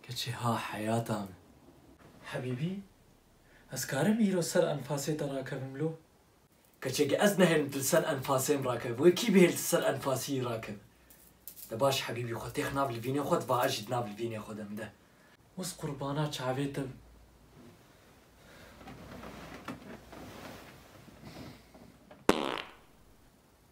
Keçî ha heyata min. Hebîbî, ez karim îro ser enfasê te rakevim lo? Keçeke ez nehêlim tu li ser enfasê min rakeve, wê kî bihêl tu ser enfasî yî rakeve. De baş hebîbî xwe têx nav li vînê xwe di va ez jî di nav li vînê xwe de min de. Wis qurbana çavê te bim.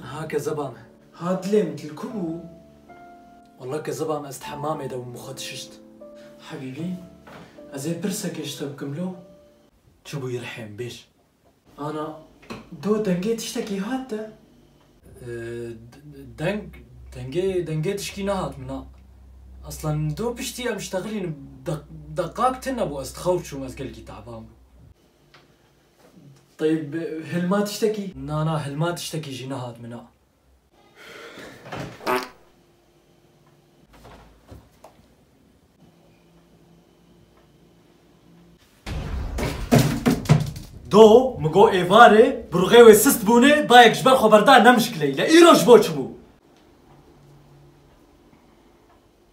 Ha kezeba me. Ha dilê min til ku bû? Walla kezeba me ez di hemamê de bûm xwe dişişt. Hebîbî, ez ê pirsekê ji te bikim lo? Çi bû Îrhên, bêj. Ana, do dengê tiştekî hat te? Deng, dengê, dengê tişkî nehat min na. Eslan do piştî em ji texilîn deq, deqak tune bû ez dixewr çûm ez gelekî te'ban bûm. Teyb, hilma tiştekî? Na, na, hilma tiştekî jî nehat min na. Do mi got êvarê bi ruxê wê sist bûnê dayek ji ber xwe berda ne mişkileyî le îro ji bo çi bû?